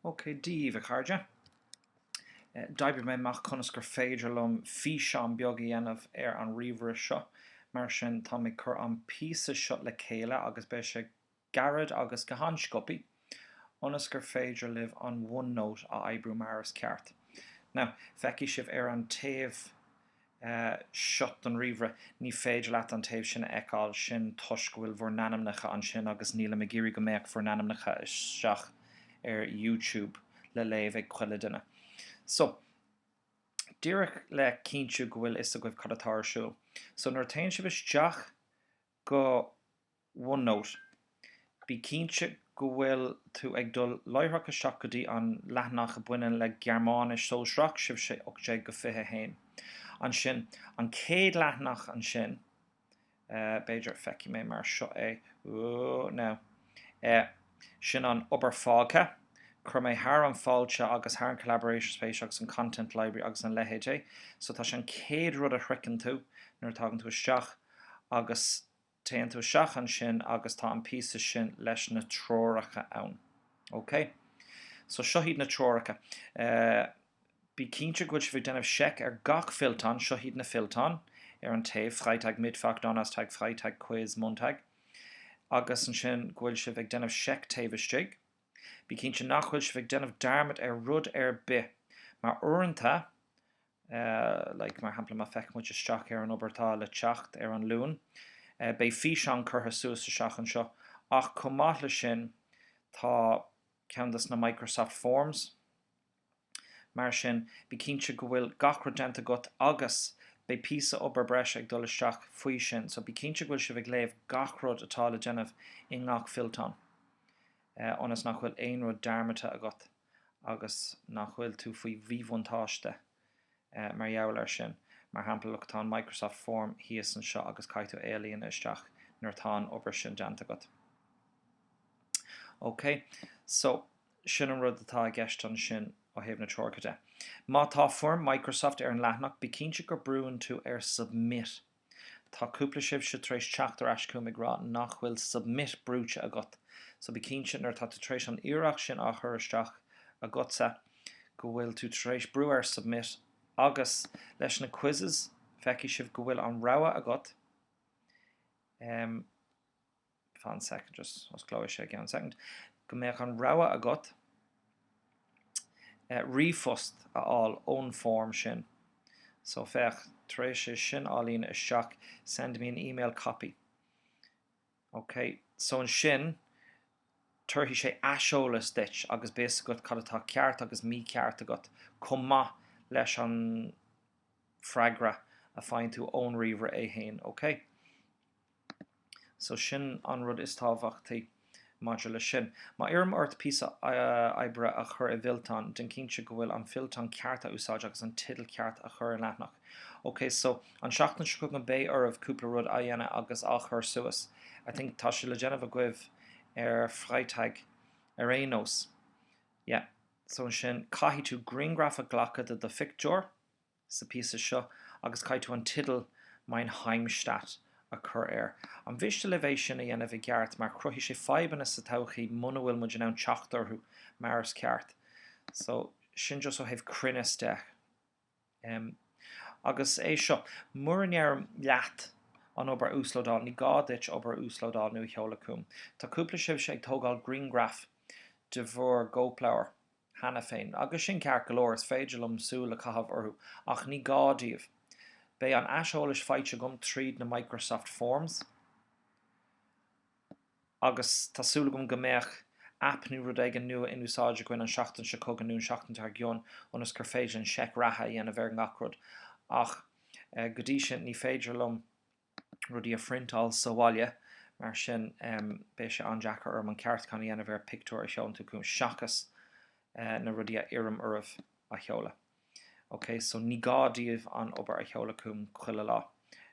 Ok daoibh, a chairde. D'oibrigh mé amach conas gur féidir liom físeán beag a dhéanamh ar an ríomhaire seo, mar sin tá mé ag cur an píosa seo le chéile agus beidh sé gairid agus go han-scioptha. ionas gur féidir libh an OneNote a oibriú mar is ceart. Now, feicfidh sibh ar an taobh seo den ríomhaire, ní féidir leat an taobh sin a fheiceáil, sin toisc go bhfuil bhur n-ainmneacha ansin agus nílim ag iarraidh go mbeadh bhur n-ainmneacha isteach ar YouTube le léamh ag chuile duine. So, díreach le cinntiú go bhfuil fhios agaibh cad atá ar siúl. So, nuair a théann sibh isteach go OneNote. Bí cinnte go bhfuil tú ag dul láithreach isteach go dtí an leathanach a bhaineann le Gearmáinis Sóisearach, sibhse 18-21. Ansin, an chéad leathanach ansin, b'fhéidir, feicfidh mé mar seo é, oh, no. é. Sin an obair fágtha. Chuir mé thar an fáilte agus thar an collaboration space agus an content library agus an leithéid é. So tá sé an chéad rud a shroicheann tú nuair a thagann tú isteach agus téann tú isteach ansin agus tá an píosa sin leis na treoracha ann. OK? So seo iad na treoracha. Bí cinnte go bhfuil sibh ag déanamh seic ar gach fillteán, seo iad na fillteáin ar an taobh, Freitag, Mittwoch, Donnerstag, Freitag, Quiz, Montag. agus ansin go bhfuil sibh ag déanamh seic taobh istigh, bí cinnte nach bhfuil sibh ag déanamh dearmad ar rud ar bith, mar uaireanta, like, mar shampla, má fheiceann muid isteach ar an obair atá le teacht ar an Luan, beidh físeán curtha suas isteach anseo, ach chomh maith leis sin, tá ceann dos na Microsoft Forms, Mar sin, bí cinnte go bhfuil gach rud déanta agat agus beidh píosa obair breise ag dul isteach faoi sin. So bí cinnte go bhfuil sibh ag léamh gach rud atá le déanamh i ngach fillteán ionas nach bhfuil aon rud dearmadta agat agus nach bhfuil tú faoi mhíbhuntáiste mar gheall ar sin. Mar shampla, look, tá an Microsoft Form thíos anseo agus caithfidh tú é a líonadh isteach nuair atá an obair sin déanta agat. Okay, so. sin an rud atá i gceist ansin ó thaobh na treoracha de. Má tá foirm Microsoft ar an leathanach, bí cinnte gur brúnn tú ar Submit. Tá cúpla sibh tar éis teacht ar ais chugam ag rá nach bhfuil Submit brúite agat, so bí cinnte nuair atá tú tar éis an iarracht sin á chur isteach agatsa go bhfuil tú tar éis brú ar Submit agus leis na quizzes feicfidh sibh go bhfuil an rogha agat, go mbeadh an rogha agat ríomhphost a fháil ón form sin. So, féach, tar éis é sin á líonadh isteach, send me an email copy. OK. So ansin, tabharfaidh sé aiseolas duit agus beidh fhios agat cad atá ceart agus mícheart agat, chomh maith leis an freagra a fhaigheann tú ón ríomhaire é féin. OK. So sin an rud is tábhachtaí maidir leis sin. Má iarraim ort píosa oibre a chur i bhfillteán, déan cinnte go bhfuil an fillteán ceart a úsáid agus an teideal ceart a chur ar an leathanach. Ok, so an tseachtain seo chugainn beidh oraibh cúpla rud a dhéanamh agus a chur suas. I think tá sé le déanamh agaibh ar Freitag ar aon nós. Yeah. So ansin caithfidh tú grianghraf a ghlacadh de do phictiúr. sa bpíosa seo agus caithfidh tú an tideal Mein Heimatstadt a chur air. Ar mhiste libh é sin a dhéanamh i gceart mar cruthóidh sé fadhbanna sa todhchaí muna bhfuil muid in ann teacht orthu mar is ceart. So, sin just ó thaobh cruinneas de. Em. Agus é seo, mura n-iarrtar leat an obair a uaslódáil, ní gá duit obair a uaslódáil nó a sheoladh chugam. Tá cúpla daoibhse ag tógáil grianghraf de bhur gcóipleabhar. cheana féin. Agus sin ceart go leor, is féidir liom súil a chaitheamh orthu, ach ní gá daoibh. Beidh an aiseolas faighte agam tríd na Microsoft Forms, agus tá súil agam go mbeadh aip nó rud éigin nua in úsáid againn an seachtain seo chugainn nó an seachtain dar gcionn ionas gur féidir linn seic reatha a dhéanamh ar ngach rud, ach go dtí sin ní féidir liom. rudaí a phriontáil sa bhaile, mar sin beidh sé an-deacair orm an ceartúchán a dhéanamh ar pictiúir a sheolann tú chugam seachas na rudaí a iarraim oraibh a sheoladh. OK so ní gá daoibh an obair a sheoladh chugam chuile lá,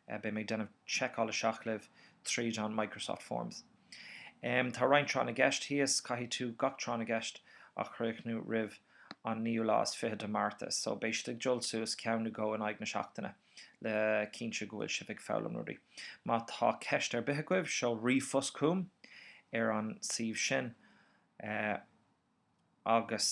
beidh mé ag déanamh seiceáil isteach libh tríd an Microsoft Forms. Tá roinnt tráth na gceist thíos, caithfidh tú gach tráth na gceist a chríochnú roimh an naoú lá is fiche de Mhárta so beidh siad ag dul suas ceann nó dhó in aghaidh na seachtaine. le cinntiú go bhfuil sibh ag foghlaim rudaí. Má tá ceist ar bith agaibh, seol ríomhphost chugam ar an suíomh sin agus.